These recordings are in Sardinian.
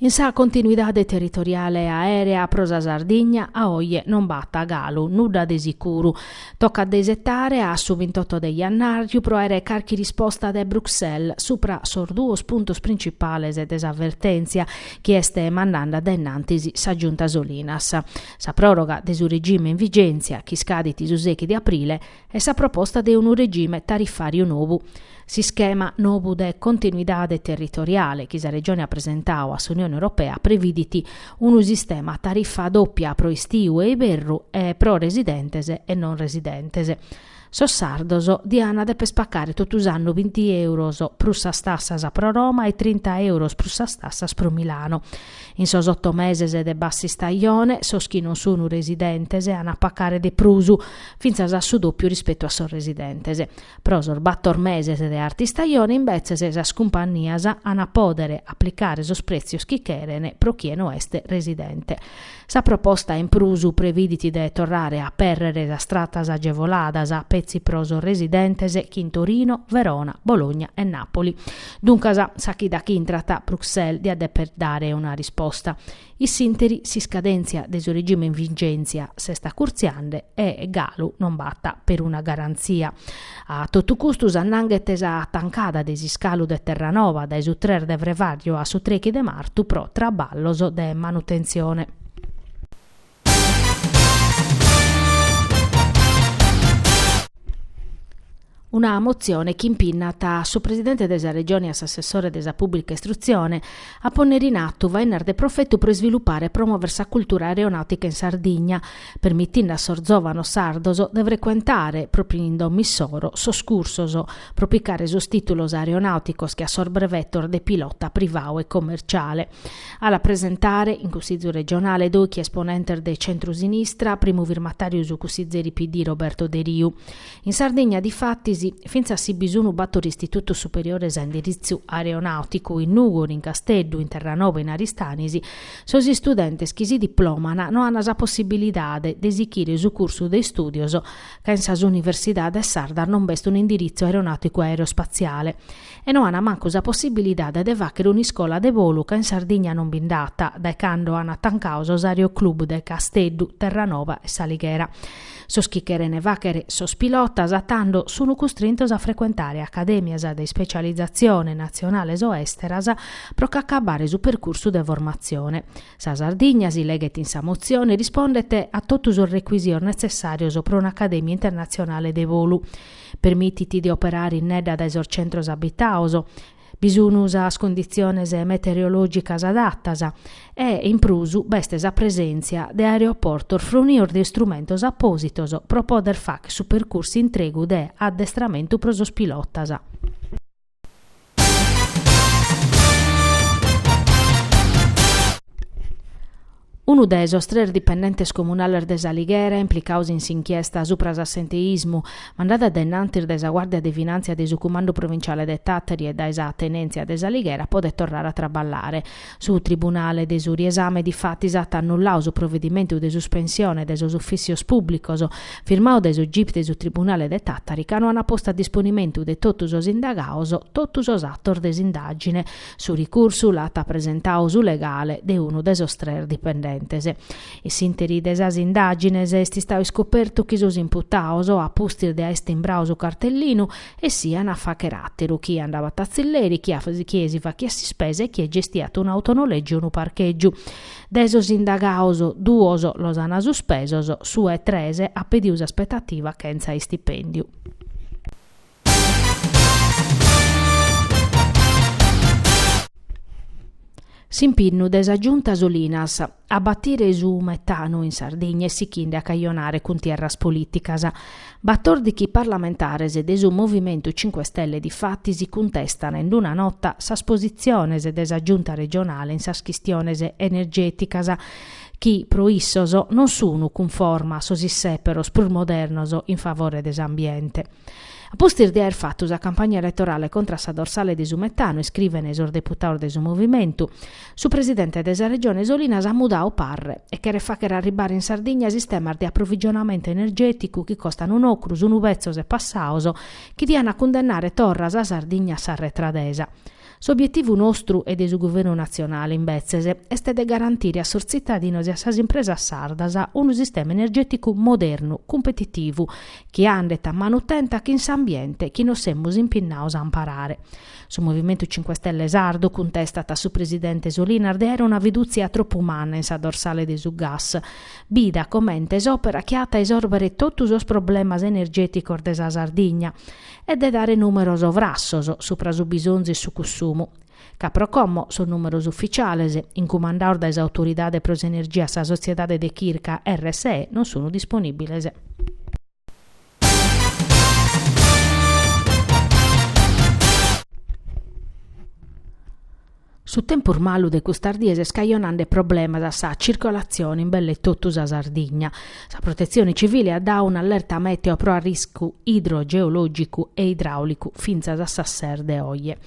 In sa continuidade territoriale aèrea pro sa Sardigna a oje non b'at galu, nudda de sicuru. Tocat de isetare a su bintotto de jannàrriu pro àere carchi risposta de Bruxelles supra sos duos puntos principales de sa vertèntzia chi est mandende dae innantis sa Giunta Solinas, sa pròroga de su regime in vigèntzia chi iscadit su sechi de aprile, e sa proposta de unu regime tarifàriu nou. S'ischema nou de continuidade territoriale chi sa Regione at presentadu a s'Unione Europea previdit unu sistema a tarifa dòpia pro istiu e iberru e pro residentes e non residentes. Sos sardos diant deper pacare totu s'annu binti èuros prus sas tassas pro Roma e trinta èuros prus sas tassas pro Milano. In sos oto meses de bass'istajone, sos chi non sun residentes an a pacare de prus, fintzas a su dòpiu rispetu a sos residentes. Pro sos bator meses de art'istajone, imbetzes, sas cumpannias an a pòdere aplicare sos prètzios chi cheren pro chie no est residente. Sa proposta in prus previdit de torrare a apèrrere sas tratas agevoladas petzi pro sos residentes chin Torino, Verona, Bologna e Nàpoli Duncas, sa chida chi intrat Bruxelles diat deper dare una risposta. In s'interi s'iscadèntzia de su regime in vigèntzia s'est acurtziende e galu non b'at peruna garantzia. A totu custu s'annanghet sa tancada de s'iscalu de Terranova dae su tres de frevàriu a su trechi de martu pro traballos de manutentzione. Una motzione chi impinnat su Presidente de sa Regione e a s'Assessore de sa Pùblica Istrutzione a pònnere in atu fainas de profetu pro isvilupare e promòvere sa cultura aeronàutica in Sardigna, permitinde a sos zòvanos sardos de frecuentare, pròpiu in domo issoro, sos cursos pro picare sos tìtulos aeronàuticos che a sos brevetos de pilota privadu e commerciale. A la presentare in Cussizu regionale dòichi esponentes de centru-sinistra, primu firmatàriu su cussizeri PD Roberto Deriu. In Sardigna, difatis, fintzas si bi sunu bator istitutos superiores a indiritzu aeronàuticu, in Nùgoro, in Casteddu, in Terranova e in Aristanis, sos istudentes chi si diplòmana no an sa possibilidade de sichire su cursu de istùdios ca in sas universidades sardas non b'est un'indiritzu aeronàuticu-aerospatziale. e no ana mancu sa possibilidade de fàchere un'iscola de bolu ca in Sardigna non bi nd'at, dae cando ana tancadu sos aeroclub de Casteddu, Terranova e S'Alighera. Sos chi cheren fàchere sos pilotas tando sun custrintos a frecuentare acadèmias de ispecializatzione natzionales o èsteras pro ch'acabbare su percursu de formatzione. Sa Sardigna, si leghet in sa motzione, rispondet a totu sos recuisios netzessàrios pro un'acadèmia internatzionale de bolu, Permitit de operare innedda dae sos centros abitados, bi sun sas conditziones metereològicas adatas e, in prus, b'est sa presèntzia de aeroportos fronios de istrumentos apòsitos pro pòdere fàghere su percursu intregu de addestramentu pro sos pilotas. Unu de sos tres dipendentes comunales de s'Alighera implicados in s'inchiesta supra s'assenteismu mandada a dae nantis dae sa Guàrdia de Finàntzia de su Cumandu Provinciale de Tàtari e dae sa Tenèntzia de s'Alighera podet torrare a traballare. Su tribunale de su riesame difatis at annullau su provedimentu de suspensione de sos ufìssios pùblicos firmau dae su gip de su tribunale de Tàtari ca no ant postu a disponimentu de totu sos indagaos totu sos atos de s'indàgine. Su ricursu l'at presentau su legale de unu de sos tres dipendentes. In s'ìnteri de sas indàgines est istau iscopertu chi sos imputaos, a pustis de aer timbrau su cartellinu, essian a fàchere àteru, chie andabat a tzilleri, chie si fachiat s'ispesa e chie gestiat un'autonolègiu o unu parchègiu. De sos indagados, duos los ant suspesos, su 'e tres at pedidu s'aspetativa chentza istipèndiu. S'impinnu de sa Giunta Solinas. A batire su metanu in Sardigna est sichinde a cajonare cuntierras polìticas. Batòrdichi parlamentares de su Movimentu Cinque Stelle difatis cuntestan in una nota sas positziones de sa Giunta regionale in sas chistiones energèticas chi, pro issos, non sunu cunforma a sos issèperos prus modernos in favore de s'ambiente. A pustis de aer fatu sa campagna eletorale contra a sa dorsale de su metanu, iscrivene sos deputaos de su Movimentu, Su presidente de sa Regione Solinas at mudau parre e cheret fàchere arribare in Sardigna sistemas de aprovigionamentu energèticu chi costan un'ocru, sunu betzos e passaos, chi diant a cundennare torra sa Sardigna a s'arretradesa. S'obietivu nostru e de su Guvernu natzionale, imbetzes, est de garantire a sos tzitadinos e a sas impresas sardas unu sistema energèticu modernu, cumpetitivu, chi andet a manu tenta chin s'ambiente chi nos semus impinnaos a amparare. Su Movimentu Cinque Stelle sardu cuntestat a su presidente Solinas de aere una fidùtzia tropu manna in sa dorsale de su gas. Bida comente s'òpera chi at a isòrbere totu sos problemas energèticos de sa Sardigna e de dare nùmeros frassos supra su bisonzu e su cussumu, ca pro como sos nùmeros ufitziales, incumandaos dae s'Autoridade pro s'Energia a sa sotziedade de chirca RSE, non sunt disponìbiles. Su tempus malu de custas dies est cajonande problemas a sa circolatzione in belle totu sa Sardigna. Sa Protetzione Civile at dadu un'allerta mèteo pro arriscu idrogeològicu e idraùlicu fintzas a sas ses de oje.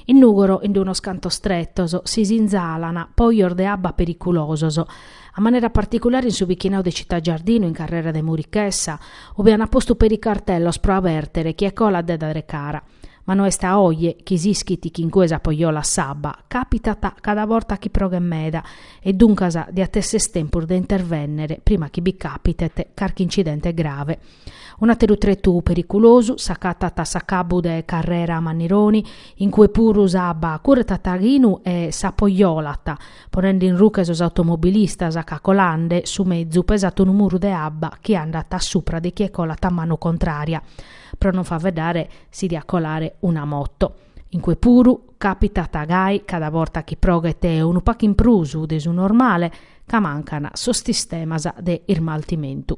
In Nùgoro, in unos cantos tretos, si sinzalan pojos de abba periculosos, a manera particulare in su bichinau de Città Giardino in carrera de Murichessa, ube an postu peri cartellos pro abertere chie colat de dare cara. Ma no est dae oje chi s'ischit chi in cue s'apojolat s'abba, càpitat cada borta chi proghet meda e duncas diat esser tempus de intervènnere prima chi bi càpitet carchi incidente grave. Un'àteru tretu periculosu s'acatat a s'acabbu de carrera Mannironi, in cue puru s'abba curretat a ghinu e s'apojolat, ponende in ruche sos automobilistas ca colande su mezu pesat unu muru de abba chi andat a supra de chie colat a manu contrària, pro non faveddare si diat colare una moto. In cue puru càpitat gai cada borta chi proghet unu pacu in prus de su normale ca mancan sos sistemas de ismaltimentu.